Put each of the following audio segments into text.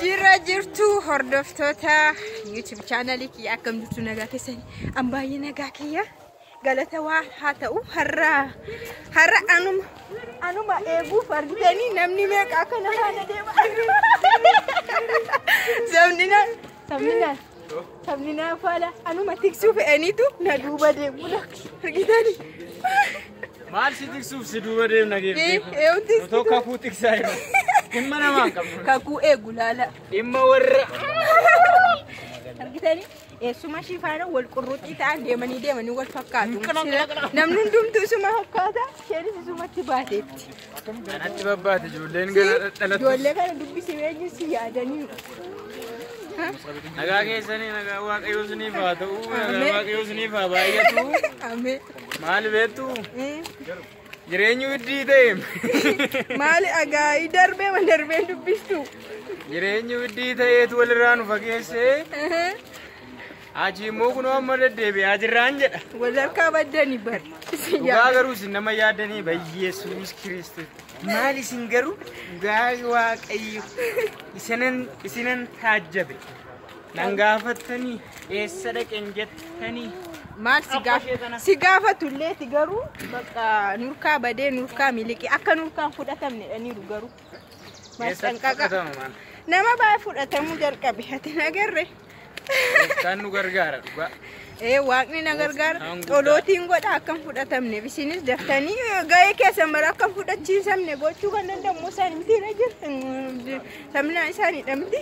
Jirra jirtu hordoftoota YouTube chaanalii kiyya akkam jirtu nagaa keessanii an baay'ee nagaa kiyya galata waa haa ta'u har'a har'a anuma anuma eeguuf argitanii namni meeqa akkana haala deema sabni na sabni na Sabni naa faala anuma tiksuu fe'aniitu na duuba deemudha. Argitani? Maal si tiksuuf si duuba deemna Ee, geeffee? ee, wanti Nu tokko kakuu tiksaa jiru. Dhimma namaa hin qabnu. kakuu eegu laala. Dhimma warra. Argitani? Eessuma ishii faana wal qurruuxii ta'an deemanii deemanii wal fakkaatu. Sila- Namni hundumtuu isuma fakkaata. Isheenis isumatti baateetti. Kanatti babbaate ijoolleen gara dhalattu. Ijoollee kana dubbisi eenyu si yaadaniiru. Nagaa keessanii nagaa waaqayyoo isiniif haa ta'u. Nagaa waaqayyoo isiniif haa baay'atu. Amee. Maal beektu? Jireenyi widdii ta'e. Maali agaayii darbee ma darbeen dubbistu? Jireenyi widdii ta'eetu walirraa nu fageessee. Haji immoo kunoo amma deddeebi'aa jirraan jedha. Wal harkaa baddani bar. Dhugaa garuu isin nama yaadanii bayyeessuunis kiristu. Maal isin garuu dhugaa waaqayyo isinan isinan taajjabe. Nan gaafattanii eessa dhaqeen jettanii. Maal si gaaf- si gaafatulleeti garuu bakka nurkaa badee nurkaa miliqee akka nurkaan fudhatamnedhaniiru garuu. Eessatti Masxanqaqa. fudhatama maal? Nama baay'ee fudhatamuu jalqabe ati hin agarre. Gooftaan nu gargaara dhugaa. Ee waaqni na gargaara. Gooftaan guddaa. Xolootiin godha akka hin fudhatamneef isinis daftanii gahee keessan mara akka hin fudhachiisamne gochuu kan danda'u immoo isaanitti jira. Sabnaa isaaniidha miti.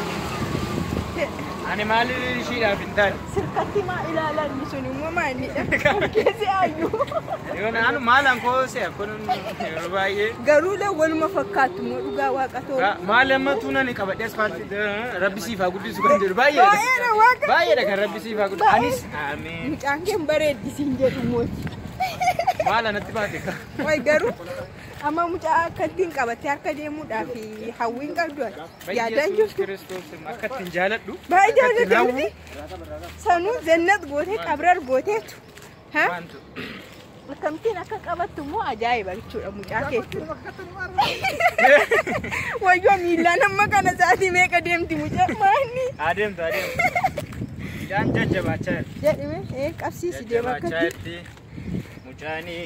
Ani maali ishiidhaaf hin taane. Sirkatti maa ilaalan sun immoo maalidha? Keessi ayyu. Yoon anu maalan koo se'a kun yeroo baay'ee. Garuu lee waluma fakkaatu immoo dhugaa waaqa too. Maal amma tuunan qabadhe asfaalti rabbi siif haa guddisu kan jedhu baay'eedha. Baay'eedha waaqa. Baay'eedha kan rabbi siif haa guddisu. Anis ameen. Mucaan kee hin bareeddi siin jedhu mooti. Maala natti baate ka. Way garuu amma mucaa akkatti hin qabattee harka deemuudhaaf hawwiin qabdu ati. Yaadaan Yesuus jirtu. Kiristoos akka ittiin jaaladhu. Baay'ee akka ittiin jaallatanii hawwu, sanuu jannat gootee qabrar gooteetu. Ha? Waantu. Akkamittiin akka qabattu immoo ajaa'iba jechuudha mucaa keessi. Wayyoo miillaan amma kana sa'aatii meeqa deemti mucaa maanni Adeemtu adeemtu. Midhaan jajjabaachaa jirti. jedhime ee qabsiisi deema Jajjabaachaa akkatti. jirti. Mucaanii.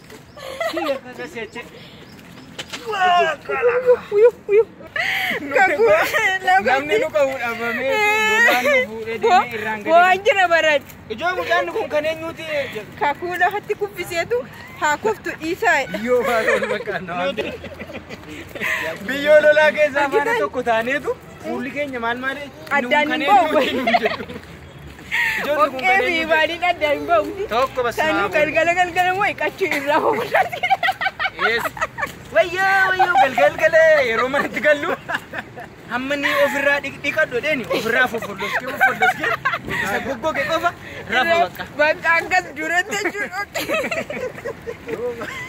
Namni nu qabu dhabamee lolaan nu fuudhee deemee irraan gadi. Waan jira barat. Ijoo mucaan kun kan eenyuuti? Kakuu lafatti kuffiseetu haa kuftu dhiisaa. Biyyoo faana ol fakkaanna waan ta'eef. Biyyoo lolaa keessaa faana tokko taaneetu fuulli keenya maal maali? Addaan hin ba'u. Ijoolli kun Okkee kan fi eenyu baaliin adda hin ba'u. jedhu? Tokko bas Sanuu naa galgala galgala moo iqachuu irraa hoofudhatti. Yes. Wayyoo wayyoo galgal galee yeroo manatti gallu hamma ni ofirraa dhiq- dhiqadhu dheeni ofirraa foffolloskee foffolloskee isa goggoge qofa rafa bakka. Bakka akkas duratti jechuudha.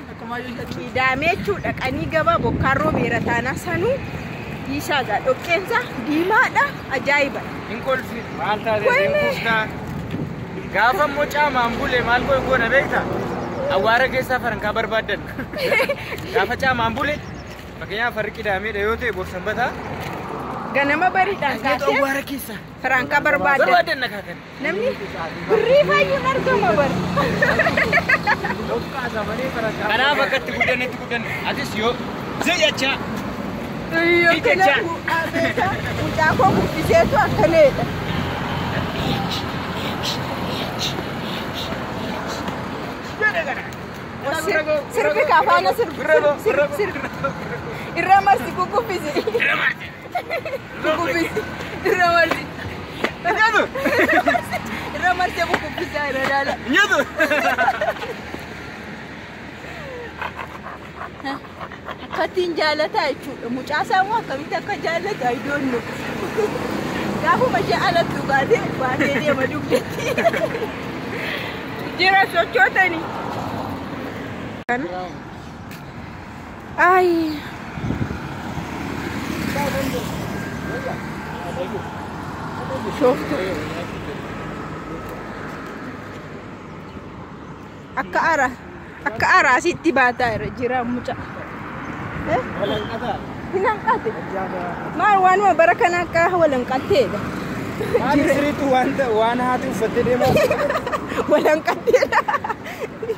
Kiidaamee jechuun dhaqanii gabaa bokkaan roobeera taanaa sanuu dhiisaa gaa dhoqqeensa diimaadha ajaa'iba. Hin kolfi maal taate Wayne. hin kuuftaa. Gaafa immoo caamaan bule maal goon goona beekta? Awwaara keessaa farankaa barbaaddan. Gaafa caamaan bule fakkeenyaaf farri qidaameedha yoo ta'e borsanbataa. Ganama bariidhaan Asneetu kaasee awwaara keessaa. farankaa barbaaddan. Barbaaddan na kaakani. Namni birrii fayyuun argama bar. Kanaaf akka itti guddanne itti guddanne. Atis yoo ziyyacha Yoo kana Jecha. bu'aa beekaa mucaa koo guddiseetu akkaneedha. Sirbi kafaana sirbi sirbi sirbi irra marsi kukubbisi. Bukubbisi. Irra marsi. Nyaatu. Irra marsi bukubbisa irra daala. Nyaatu. Akkattiin jaalataa jechuudha. Mucaasaa immoo akkamitti akka jaallatu ayidoonnu. Gaafuma ishee alatti dhugaatee baatee deema dugdetti. Jira sochootani. Kana. Ayi. Shooftu. Akka ara akka ara asitti baataa irra jira muca. Eh? Hin hanqate. Maal waanuma bara kana akka wal hanqatteedha. Maali siriitu waan haati uffattee deemaa? Wal hanqatteedha.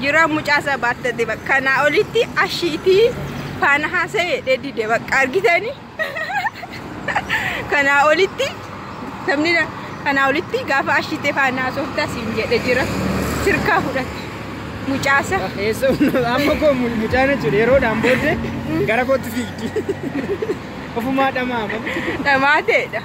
Jira mucaa isaa baattate bakka kanaa olitti ashiitii faana haasa'e dheedide bakka argitanii kanaa olitti namni na- kanaa olitti gaafa ashiitee faana haasofta siin jedhe jira sirkaa fudhate mucaa isaa. Eessoo amma koo mu- mucaan jechuudha yeroodhaan booddee gara kootti fiigdi. Ofumaa dhamaama. Dhamaateedha.